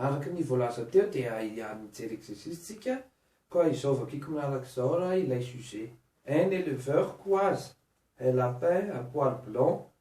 Araka ny voalaza teo dia hiany mijery exercice tsika koa izao vakiko manaraka izao raha ilay sujet, un éleveur koazy, un lapin, un poil blanc,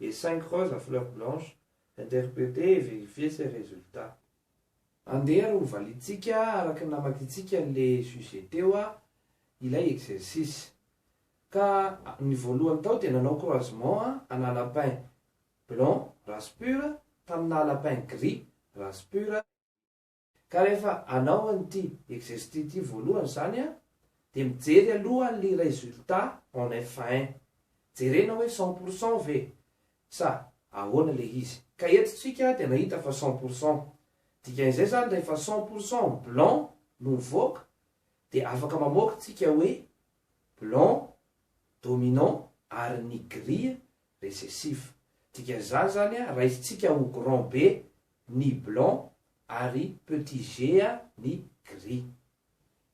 Et cinq roses à fleurs blanches, interprétez et vérifiez ces résultats. Andeha ary ho valintsika araka ny namakintsika le sujet teo a, ilay exercice. Ka ny voalohany tao dia nanao croisement a, ana lapin blanc, race pure, taminà lapin gris, race pure, Ka rehefa anao an'ity exercice ity voalohany izany an, dia mijery aloha ny résultat en fin. Jerena hoe cent pour cent ve sa ahoana ilay izy. Ka eto tsika dia nahita fa cent pour cent. Dikan'izay izany rehefa cent pour cent en blanc no mivoaka dia afaka mamoaka tsika hoe blanc dominant ary ny gris Recessif. Dikan'izany izany a, raisintsika ho grand B ny blanc ary petit G a ny gris.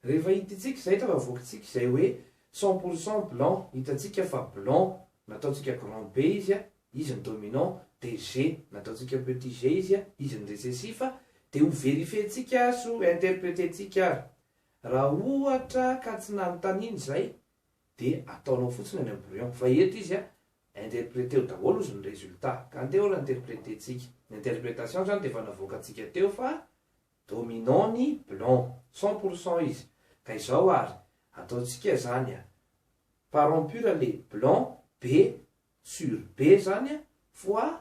Rehefa hitintsika izay eto fa avoakintsika izay hoe cent pour cent blanc, hitantsika fa blanc nataontsika grand B izy a, izy ny dominant, dia G nataontsika petit G izy a, izy ny recessif, dia ho verifientsika ary sy ho interpretentsika ary. Raha ohatra ka tsy nanontaniana izay, dia ataonao fotsiny any am brouillon fa eto izy an interpreteo daholo ozy ny resultat ka andeha ol interpretentsika ny interpretation zany dia efa navoakantsika teo fa dominant ny blanc cent pour cent izy ka izao ary ataontsika zany an parent pur le blanc be sur be zany an fois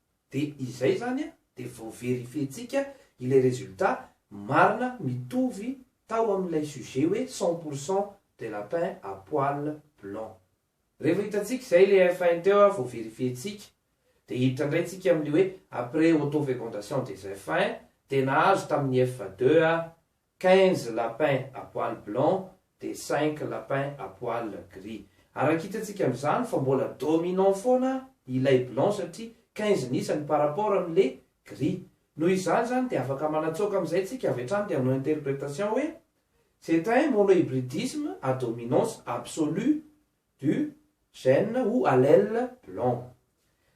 de izay zany a de vao verifientsika ilay résultat marina mitovy tao amin'ilay sujet hoe cent pour cent de lapin à poil blanc revo hitantsika izay le fin teo a vao verifientsika de hiditra ndray tsika amle hoe après auto fécondation des fin de nahazo tamin'ny f deux a Quinze lapins à poils blancs dia cinq lapins à poils gris. Araka hitantsika amin'izany fa mbola dominant foana ilay blanc satria quinze ny isany par rapport amin'ilay gris. Noho izany izany dia afaka manatsoaka amin'izay tsika avy hatrany dia hanao interprétation hoe C'est un monohybridisme à dominance absolue du gène ou allèle blanc.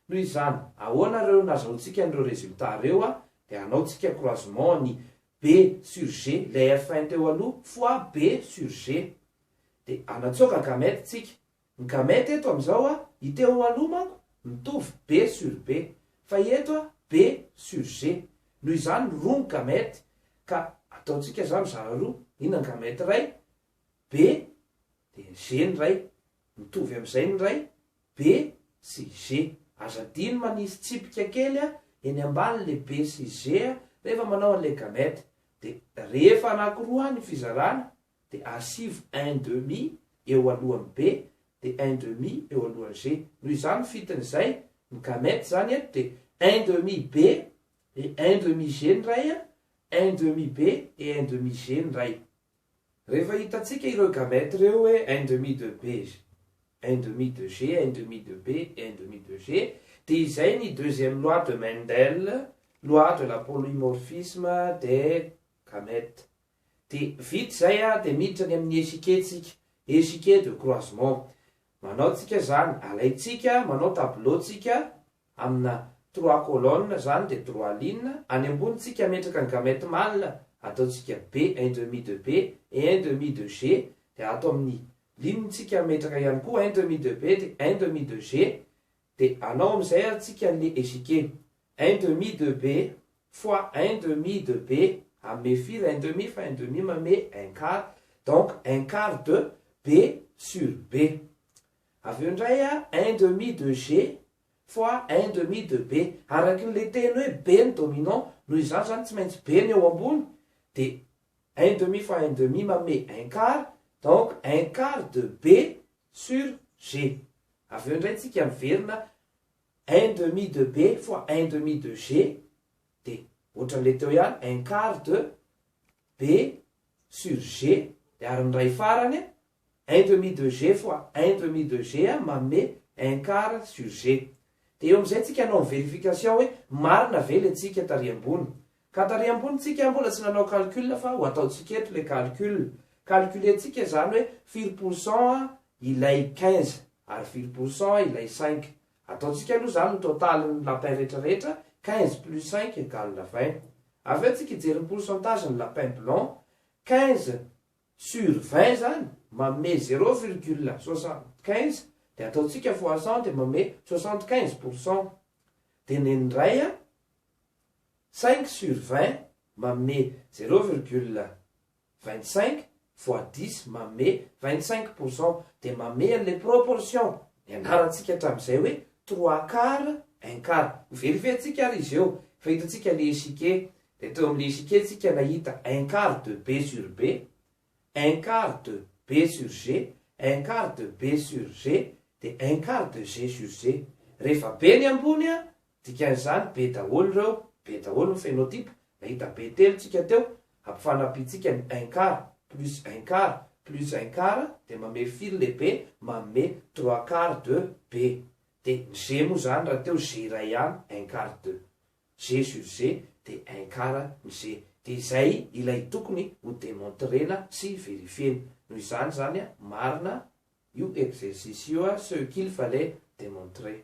Noho izany, ahoana ireo nazahoantsika an'ireo résultats ireo dia hanao tsika croisement ny be sur G lay F un teo aloha fois B sur G de anatsoaka gamete tsika, ny gamete eto amizao a i teo aloha manko mitovy B sur B fa i eto a B sur G noho izany roa ny gamete ka ataotsika za mizara roa ina ny gamete iray B de ny G ny iray mitovy amizay ny iray B sy G. Aza adino manisy tsipika kely a eny ambany le B sy G a rehefa manao an'ilay gamète. Dia rehefa anakiroa ny fizarana dia asivo un demi eo alohan'ny B dia un demi eo alohan'ny G. Noho izany ny fitin'izay ny gamète izany eto dia un demi B et un demi G ny iray a, un demi B et un demi G ny iray. Rehefa hitantsika ireo gamètes ireo hoe un demi de B, un demi de G, un demi de B et un demi de G, dia izay ny deuxième loi de Mendel, loi de la polymorphisme des gamètes. Dia vita izay dia miditra any amin'ny échiquet tsika, échiquet de croisement. Manao tsika izany, alaintsika, manao tableau tsika, Amina trois colonnes zany dia trois lignes, any ambony tsika ametraka ny gamète mâle ataontsika B un demi de B et un demi de G dia ato amin'ny ligne tsika ametraka ihany koa un demi de B dia un demi de G dia anao amin'izay ary tsika an'le échiquier un demi de B fois un demi de B amehy firy un demi fa un demi mamehy un quart donc un quart de B sur B Avy eo indray a, un demi de G fois un demi de B. Araky ny le teny hoe B ny dominant, noho izany izany tsy maintsy B ny eo ambony, dia un demi fois un demi manome un quart, donc un quart de B sur G. Avy eo indray tsika miverina un demi de B fois un demi de G, dia ohatran'ilay teo ihany, un quart de B sur G, dia ary ny iray farany a, un demi de G fois un demi de G manome un quart sur G. Dia eo amin'izay tsika hanao ny vérification hoe marina ve ilay tsika tary ambony. Ka tary ambony tsika mbola tsy nanao calcul fa ho ataontsika eto ilay calcul. Calculer tsika izany hoe firy pour cent ilay quinze ary firy pour cent ilay cinq. Ataontsika aloha izany ny total ny lapin rehetra rehetra, quinze plus cinq égale vingt. Avy eo tsika hijery ny pourcentage ny lapin blanc, quinze sur 20 izany manome zéro virgule soixante quinze dia ataontsika fois cent dia manome soixante quinze pour cent dia ny indray a cinq sur vingt manome zéro virgule vingt cinq fois dix manome vingt cinq pour cent dia manome an'ilay proportion nianarantsika hatramin'izay hoe trois quart un quart ho verifier-ntsika ary izy eo fa hitantsika ilay échiquier Teto amin'ny Léxique isika nahita un quart de B sur B, un quart de B sur G, un quart de B sur G, dia un quart de G sur G. Rehefa B ny ambony, dikan'izany B daholo ireo, B daholo ny phénotype, nahita B telo tsika teo, ampifanampiantsika ny un quart plus un quart plus un quart dia mamehy fil le B manome trois quarts de B. Dia ny G moa izany rahateo G iray ihany un quart de. G sur G de un quart ny G de izay ilay tokony ho demontrena sy verifiena. Noho izany zany marina io exercice io ce qu'il fallait demontrer.